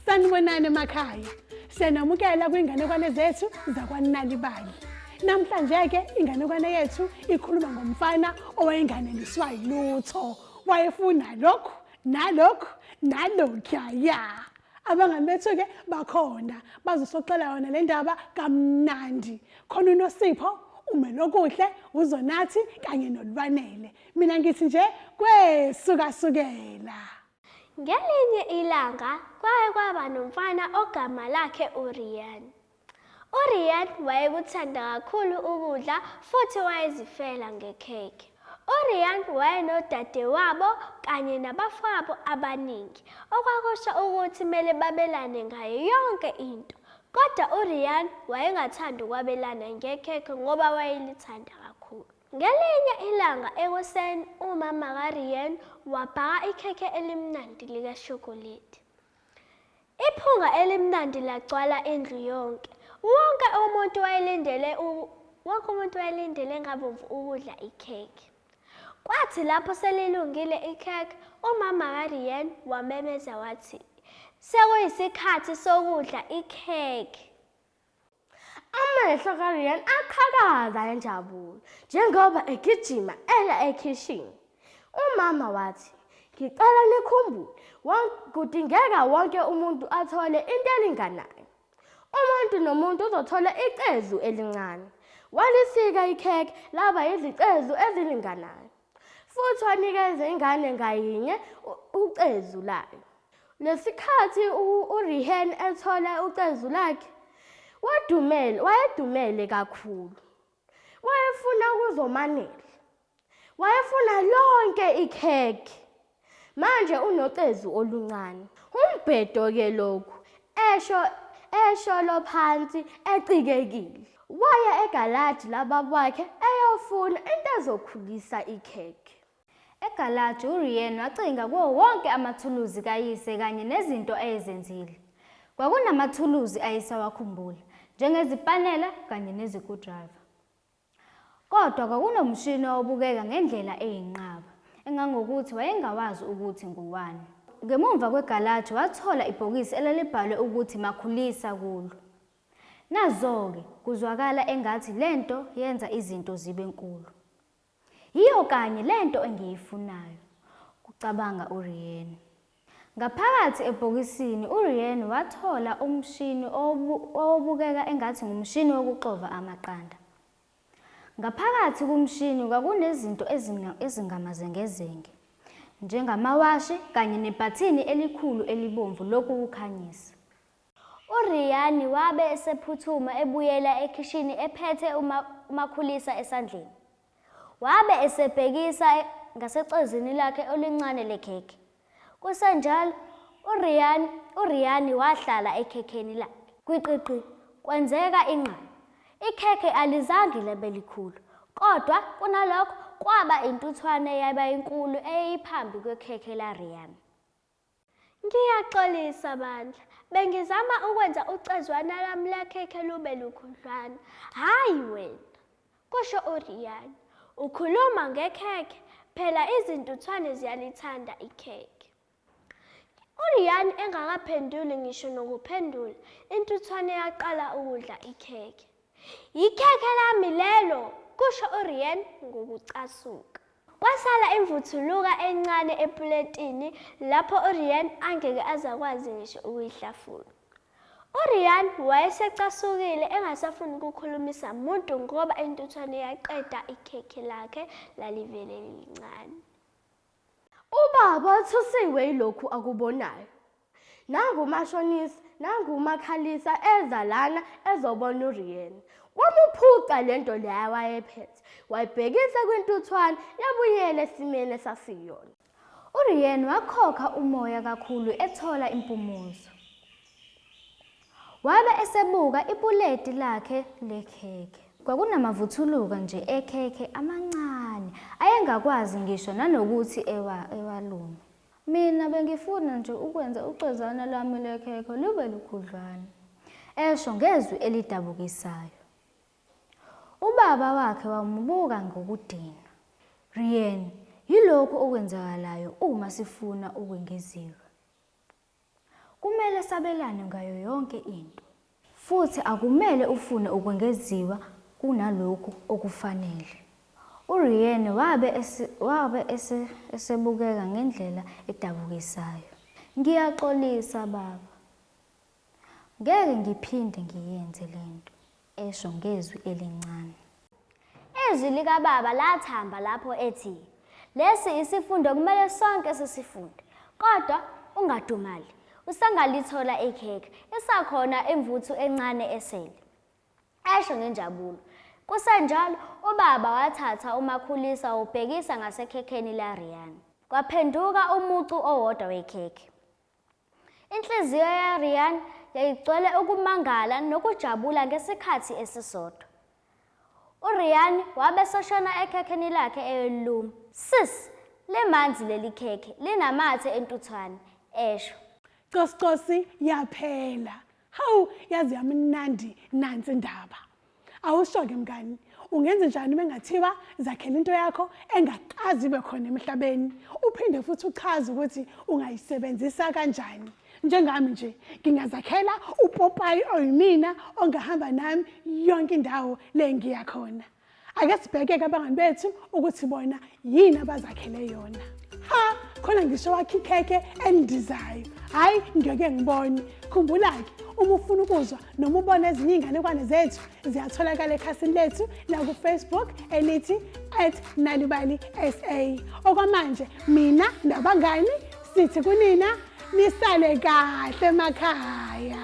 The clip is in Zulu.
Sanibonani emakhaya. Siyanamukela kwinganekwane zethu zakwanalibali. Namhlanje ke inganekwane yethu ikhuluma ngomfana owayenganeliswa yilutho. Wayefuna lokhu nalokhu nalokhuya ya. Abangani bethu ke bakhona bazosoxela yona le ndaba kamnandi. khona unosipho umelokuhle uzonathi kanye nolwanele mina ngithi nje kwesukasukela ngelinye ilanga kwaye kwaba nomfana ogama lakhe urian urian wayekuthanda kakhulu ukudla futhi wayezifela ngekhekhe urian wayenodadewabo kanye nabafowabo abaningi okwakusho ukuthi kumele babelane ngayo yonke into Kodwa uRian wayengathandi ukwabelana ngekhekhe ngoba wayelithanda kakhulu. Ngelinye ilanga ekuseni umama kaRian wabhaka ikhekhe elimnandi likashokoledi. Iphunga elimnandi lagcwala indlu yonke. Wonke umuntu wayelindele wonke umuntu wayelindele ngabomvu ukudla ikhekhe. Kwathi lapho selilungile ikhekhe, umama kaRian wamemeza wathi, Sekuyisikhathi sokudla ikhekhe. Amehlo kaRian aqhakaza enjabulo njengoba egijima eya ekhishini. Umama wathi, Ngicela nikhumbule, kudingeka wonke umuntu athole into elinganayo. Umuntu nomuntu uzothola icezu elincane. Walisika ikhekhe laba yizicezu ezilinganayo. Futhi wanikeza ingane ngayinye ucezu layo. Lesikhathi uRihen ethola ucezu lakhe, wadumela, wayedumele kakhulu. Wayefuna ukuzomanela. Wayefuna lonke ikhekhe. Manje unocezu oluncane. Umbhedo ke lokhu, esho esholo phansi ecikekile. Waya egalaji labakwakhe eyofuna into ezokhulisa ikhekhe. Egalaji uRian wacinga kuwo wonke amathuluzi kayise kanye nezinto ayezenzile. Kwakunamathuluzi ayesawakhumbula, njengezipanela kanye nezikudriver. Kodwa kwakunomshini owawubukeka ngendlela eyinqaba, engangokuthi wayengawazi ukuthi ngowani. Ngemuva kwegalaji wathola ibhokisi elalibhalwe ukuthi Makhulisa kulo. Nazo-ke, kuzwakala engathi le nto yenza izinto zibe nkulu. Yiyo kanye le nto engiyifunayo, kucabanga uRiene. Ngaphakathi ebhokisini uRian wathola umshini owobu, owobukeka engathi ngumshini wokuxova amaqanda. Ngaphakathi kumshini kwakunezinto ezimna, ezingamazengezenge, njengamawashi kanye nebhathini elikhulu elibomvu lokuwukhanyisa. URian wabe esephuthuma ebuyela ekhishini ephethe uma, umakhulisa esandleni. Wabe esebhekisa ngasecezini lakhe olincane lekhekhe. Kusenjalo, uRian, uRiani wahlala ekhekheni lakhe. Gwiqiqi, kwenzeka inqama. Ikhekhe alizange labe likhulu, kodwa kunalokho kwaba intuthwane yaba inkulu eyayiphambi kwekhekhe laRian. Ngiyaxolisa bandla, bengizama ukwenza ucezwana lami lakhekhe lube lukhudlwana, hhayi wena, kusho uRian. Ukhuluma ngekhekhe, phela izintuthwane ziyalithanda ikhekhe. URian engakaphenduli ngisho nokuphendula, intuthwane yaqala ukudla ikhekhe. Yikhekhe lami lelo, kusho uRian ngokucasuka. Kwasala imvuthuluka encane epuletini lapho uRian angeke azakwazi ngisho ukuyihlafuna. URian wayesecasukile engasafuni ukukhulumisa muntu ngoba intuthwane yaqeda ikhekhe lakhe lalivele lilincane. Ubaba uthusiwe yilokhu akubonayo. nangu umashonisa nangu umakhalisa eza lana ezobona uriyena wamuphuca le nto leya wayephethe wayibhekisa kwintuthwane yabuyela esimeni esasiyona uriyen wakhokha umoya kakhulu ethola impumuzo wabe esebuka ipuleti lakhe lekhekhe kwakunamavuthuluka nje ekhekhe amancane ayengakwazi ngisho nanokuthi ewa, ewalume Mina bengifuna nje ukwenza ucwezana lwami lwekhekhe lube lukhudlwana, esho ngezwi elidabukisayo. Ubaba wakhe wamubuka ngokudinwa. Rian, yilokhu okwenzakalayo uma sifuna ukwengeziwe. Kumele sabelane ngayo yonke into. Futhi akumele ufune ukwengeziwa kunalokhu okufanele. URianne wabe, ese, wabe ese, esebukeka ngendlela edabukisayo. Ngiyaxolisa, baba. Ngeke ngiphinde ngiyenze lento. esho ngezwi elincane. Izwi likaBaba lathamba lapho ethi, Lesi isifundo kumele sonke sisifunde. Kodwa ungadumali, usangalithola ikhekhe, isakhona imvuthu encane esele. Esho ngenjabulo. Kusenjalo, ubaba wathatha umakhulisa wawubhekisa ngasekhekheni laRian. Kwaphenduka umucu owodwa wekhekhe. Inhliziyo yaRian yayigcwele ukumangala nokujabula ngesikhathi esisodwa. URian wabe soshona ekhekheni lakhe eyoliluma. Sis, limanzi leli khekhe, linamathe entuthwane, esho. Coscosi yaphela. Hawu yazi yami mnandi nansi indaba. Awusho-ke mngani ungenze njani uma engathiwa zakhela into yakho engakazi ibe khona emhlabeni uphinde futhi uchaze ukuthi ungayisebenzisa kanjani njengami nje ngingazakhela upopayi oyimina ongahamba nami yonke indawo le ngiya khona ake sibheke-ke abangani bethu ukuthi bona yini abazakhele yona ha khona ngisho wakhe ikhekhe elindizayo hhayi ngeke ngibone khumbula-ke uma ufuna ukuzwa noma ubona ezinye iy'nganekwane zethu ziyatholakala ekhasini lethu nakufacebook elithi at nalibali sa okwamanje mina nabangani sithi kunina nisale kahle emakhaya